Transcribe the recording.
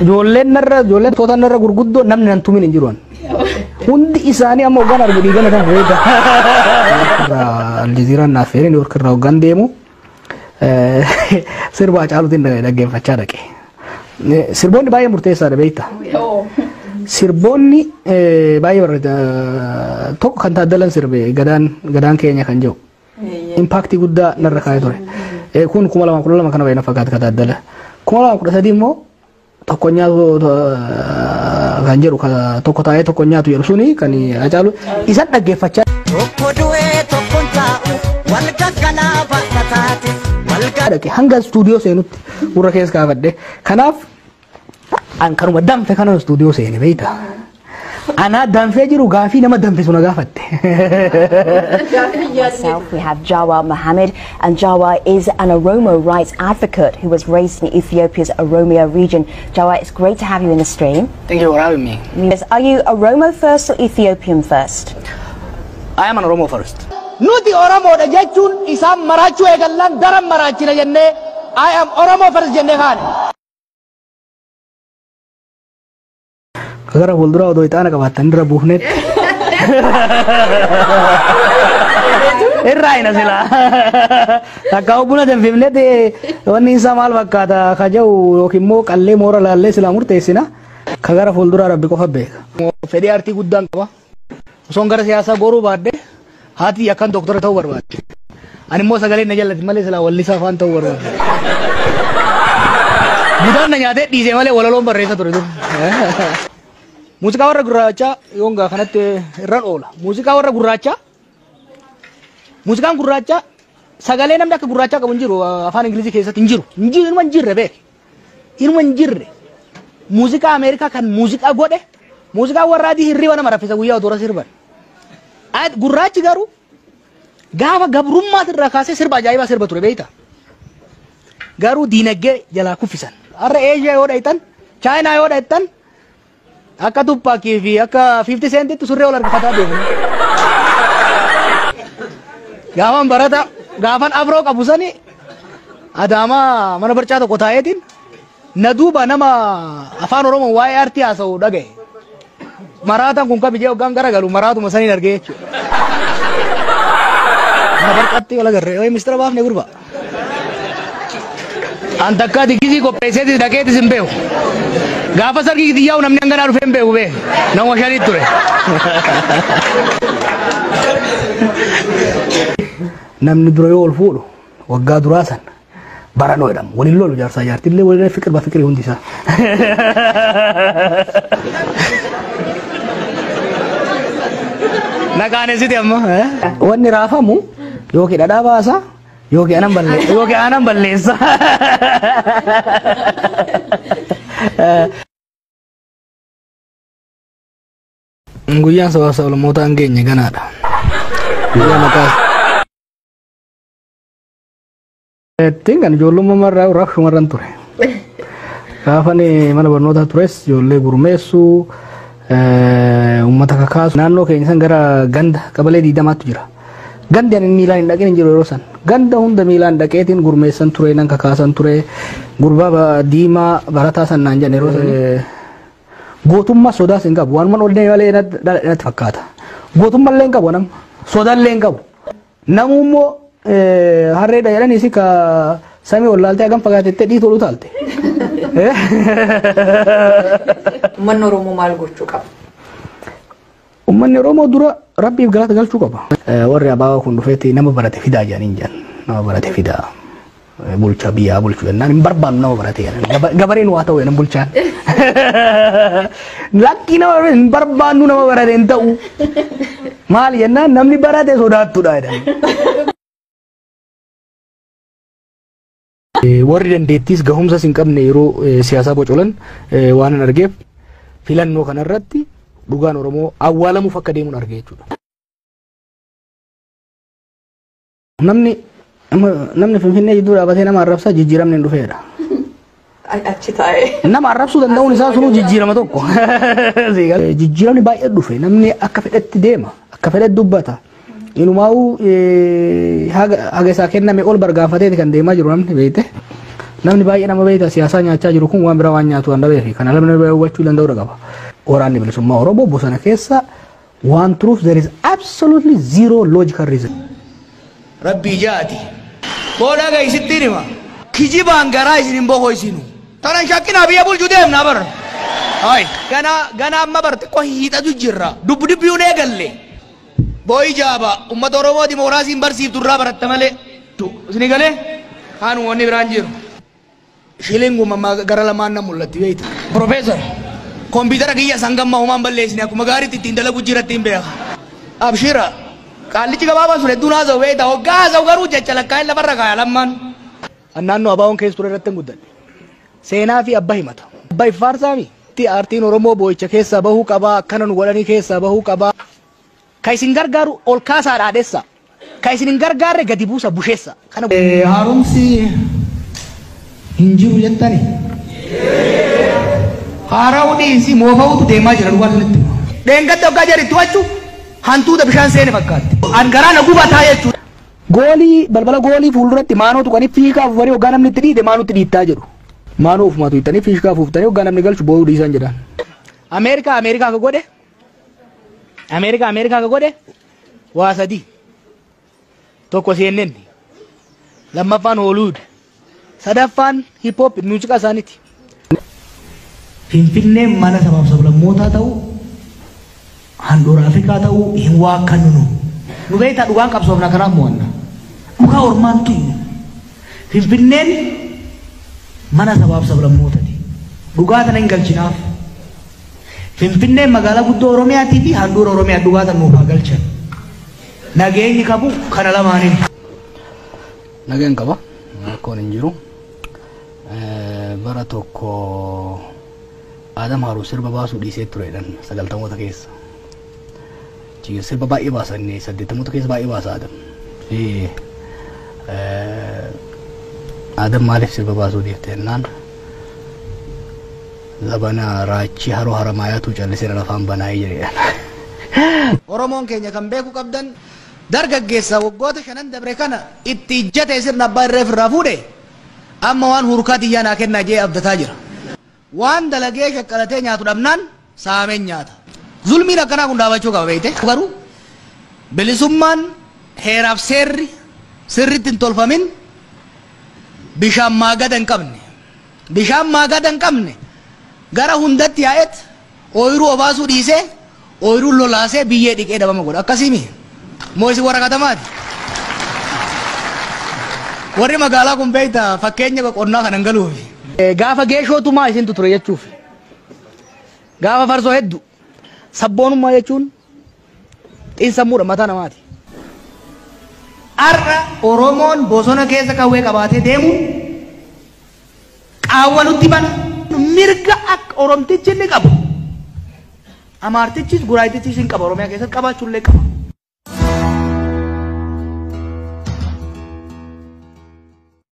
Ijoolleen narra ijoolleen toota narra gurguddoo namni nan tumin hin jiru. Hundi isaanii amma hoggaan argu dhiigana kan reeda. Aljaziiraan naaf feeree Niiwoork irraa hoggaan deemu sirba Hacaaluutiin dhaggeeffachaa dhaqe. Sirboonni baay'ee murteessaadha beekta. Sirboonni baay'ee barreessa tokko kan taaddalan sirbe gadaan gadaan keenya kan jiru. impaaktii guddaa narra kaa'ee ture. Eh, Kun kuma lamaa kudha lama kana baay'ina fakkaata ka taaddala. Kuma lamaa kudha sadii immoo tokko nyaatu eh, kan jedhu ka tokko taa'ee tokko nyaatu jedhu suni kan hacaalu isa dhaggeeffachaa Tokko du'ee tokkon taa'u wal gaggalaa baata taate wal dhaqe hanga istuudiyoo seenutti gurra keessa kaafadhe. Kanaaf An kanuma danfe kanan istuudiyoo seene beeyta. Anaa danfee jiru gaafii nama danfisu na gaafatte. Myself, we have Jawa Mohammed, and Jawa is an Oromo rights advocate who was raised in Ethiopia's Oromia region. Jawa, it's great to have you in the stream. Thank you for having me. Yes, Are you Oromo first or Ethiopian first? I am an Oromo first. Nuti Oromoodha jechuun isaan maraachuu eegallaan daran maraachina jennee I am Oromo first jennee kaane. Gara fuulduraa odoo ixaana qabaattan irra buufneet. Irraa hina silaa. Takka buna danfifneet wanni isaa maal fakkaata ka jedhu yookiin immoo qallee moora laallee silaa murteessina. Ka gara fuulduraa rabbi qofa beeka. Fedhii aartii guddaan qaba. Osoon gara siyaasaa goruu baadhe haati tiyya akkan doktara ta'uu barbaadde. Ani immoo sagaleen na jallati malee silaa wallisaa afaan ta'uu barbaadde. Butaan na nyaatee dhiisee malee walaloon barreessa ture dur. Muuziqaa warra gurraachaa yoon gaa kanatti irran oola. Muuziqaa warra gurraachaa muuziqaan gurraachaa sagalee namni akka gurraachaa qabu hin jiru afaan Ingilizii keessatti hin jiru. Hin jiru hin jirre beek. Inuma hin jirre. Muuziqaa Ameerikaa kan muuziqaa godhe muuziqaa warra adii hirriba nama raffisa guyyaa utuu irra sirban. Ad- Gurraachi garuu gaafa gabrummaas irraa kaasee sirba ajaa'ibaa sirba ture beektaa? Garuu diinagdee jalaa kuffisan. Har'a Eeshiyaa yoo dhaqxan, Chaayinaa yoo dhaqxan, Akka Tupac fi akka 50 Centitti surree wal harkifataa deemna. Gaafan barata gaafan afroo qabu sani adaamaa mana barcaa tokko taa'eetiin na duuba nama afaan oromoo waa'ee artii haasa'u dhagaye. Maraataan kun kabijee hoggaan garagalu maraatuma saniin argee jechuudha. Mana barcaatti wal agarree. Mistira baafne gurbaa. An takkaa digisii qopheesseetis dhaqeetis hin beeku. Gaafa sargii kitiyyaa'u namni hanganaa dhufee hin beeku bee. Nama shaniit ture. Namni dura yoo ol fuudhu waggaa duraa san baranoo jedhama. Waliin lolu jaarsaa jaartillee waliin fikir ba fikiri hundi isaa. Na qaanesiti amma. Wanni raafamu Yookiin dhadhaa baasa yookiin aanan balleessa yookiin aanan balleessa. Guyyaan sabaa sablammoota hin geenye ganaadha. Guyyaa mataa Ittiin kan ijoollummaa irraa irraa shumarran ture. Gaafa ani mana barnootaa tures ijoollee gurmeessuu eh, uummata kakaasu naannoo keenya san gara ganda qabalee diidamaattu jira. Gandi ani miilaan hin dhaqin hin jiru yeroo san. Ganda hunda miilaan dhaqeetiin gurmeessan ture nan kakaasan ture gurbaa ba- diimaa barataa san naan jedhan yeroo san. Eh, Gootummaa sodaas hin qabu. Waanuma ol deemee malee natti natti fakkaata. Gootummaa illee hin qabu nama. Sodaa illee hin qabu. Namuu immoo harreedha jedhaniisi ka samii ol laaltee hagam fagaatettee dhiitu ol utaalte. Uummanni Oromoo maal gochuu qaba? Uummanni Oromoo dura rabbiif galata galchuu qaba. Warri abaabaa kun dhufeetti nama barate fidaa jedhaniin jedhan. Nama barate fidaa. bulcha biyyaa bulchu jennaan hin barbaannu nama barate jedhan gabareen waa ta'u jedhan bulchaan lakkii nama hin barbaannu nama barate hin ta'u maal jennaan namni barate sodaattudha jedhan. Warri dandeettiis gahumsas hin qabne yeroo siyaasaa bocolan waan hin argeef filannoo kanarratti dhugaan Oromoo awwaalamuuf akka deemuun arge jechuudha. Namni namni Finfinnee jidduu dhaabatee nama arrabsaa jijjiiramni hin dhufeedha. Achi taa'ee. Nama arrabsuu danda'uun isaa sunuu jijjiirama tokko. Jijjiiramni baay'ee dhufe namni akka fedhetti deema akka fedhetti dubbata. Inumaa'uu haga isaa kenname ol bargaanfateeti kan deemaa jiru namni beekte. Namni baay'ee nama beekta siyaasaa nyaachaa jiru kun waan biraa waan nyaatu waan dhabeefi kana namni hubachuu danda'uu qaba. Waraanni bilisummaa Oromoo bosona keessa Waan truth there is absolutely zero logical reason. Rabbii jaati. Koo dhagahi sittiin hima. Kijibaan garaa isin hin bokoysinu. Tana hin shakkinaa biyya bulchu deemnaa bar. Hay. Gana gana amma bar xiqqoo hiixatu jirra. Dubbu dubbiyu hin eegalle. Booyi jaaba ummata Oromoo dimookiraasiin barsiiftu irraa baratta malee. Isin galee? Kaan wanni biraan jiru. Shilling uumama gara lamaan na mul'atti beekta. Professor, kompiitara kiyyas hanga ammaa homaa hin balleessine akkuma gaariitti ittiin dalagu jiratti hin beeka. Abshira, qaallichi gabaabaan sun hedduun haasa'u beekta. Hoggaa haasa'u garuu jecha lakkaa'een lafarra kaaya lammaan. An naannoo abaawoon keessa ture irratti hin guddadhe. Seenaa fi abba himata. Abba iffaarsaami. Aartiin Oromoo boo'icha keessaa bahuu qabaa akkana nu godhanii keessaa bahuu qabaa. Ka isin gargaaru ol kaasaa dhaadhessa, ka isin hin gargaarre gadi buusa bushessa. Kana. Haaromsi hin jiru jettani? Haara'uu dhiisi moofa'uutu deemaa jira dhugaa isinitti hima. Dheengadda oggaa jari itti wacu hantuuta bishaan seene fakkaatti. An garaa na gubataa jechuudha. Goolii balbala goolii fuulduratti maanoo tuqanii fiishkaa afuufanii oggaa namni itti dhiite maanuutti dhiittaa jedhu. Maanoo ofumaa tuqxanii fiishkaa afuuftanii oggaa namni galchu boo'uu dhiisaan jedhaan. Ameerikaa Ameerikaa ka godhe. Ameerikaa Ameerikaa ka godhe waa sadii. Tokko CNN. Lammaffaan Hollywood. Sadaffaan hip hop muuziqaa isaaniiti. Finfinneen mana sabaaf sablammootaa ta'uu handhuura Afrikaa ta'uu hin waakkannu nu. Nu beektaa dhugaan qabsoofna kanaaf mo'anna. Dhugaa ormaan tuyyu. Finfinneen mana sabaaf sablammootati. Dhugaa tana hin galchinaaf. Finfinneen magaalaa guddoo Oromiyaatii fi handhuura Oromiyaa dhugaa san nuuf haa galchan. Nageenyi qabu kana lamaaniin. Nagaan qaba. Rakkoon hin jiru. Eh, Bara tokko Adam Haaruu sirba baasuu dhiisee tureedhan sagaltamoota keessa. Junior sirba baay'ee baasa inni saddeettamoota keessa baay'ee baasa Adam. Fi Adam maaliif sirba baasuu dhiifte jennaan zabana raachii haroo haramaayaatu callisee na lafaan banaa'ee jedhe. Oromoon keenya kan beeku qabdan dargaggeessa waggoota shanan dabre kana itti ijjatee sirna abbaa irree ofirraa fuudhe amma waan hurkaa tiyyaa naa kennaa jee abdataa jira. Waan dalagee shaqqalatee nyaatu dhabnaan saameen nyaata. Zulmiin akkanaa kun dhaabachuu qaba beeyte. Garuu bilisummaan heeraaf seerri sirritti hin tolfamin bishaan maagada hin qabne. Bishaan maagada hin qabne gara hundatti yaa'eet. Ooyruu obaasuu dhiisee ooyruun lolaasee biyyee dhiqee dhabama godha. Akkasii mii? Moo isin warra katamaati? Warri magaalaa kun beekta fakkeenya qonnaa kanan galuufi. Gaafa geeshoo tumaa isintu ture jechuufi. Gaafa farsoo heddu. Sabboonummaa jechuun Xiinsammuudha mataa namaati. Har'a Oromoon bosona keessa qawwee qabaatee deemuun qaawwa nutti bana. Mirga akka Oromtichi inni qabu Amaartichis Guraayitichis hin qaba Oromiyaa keessatti qabaachuu illee qaba.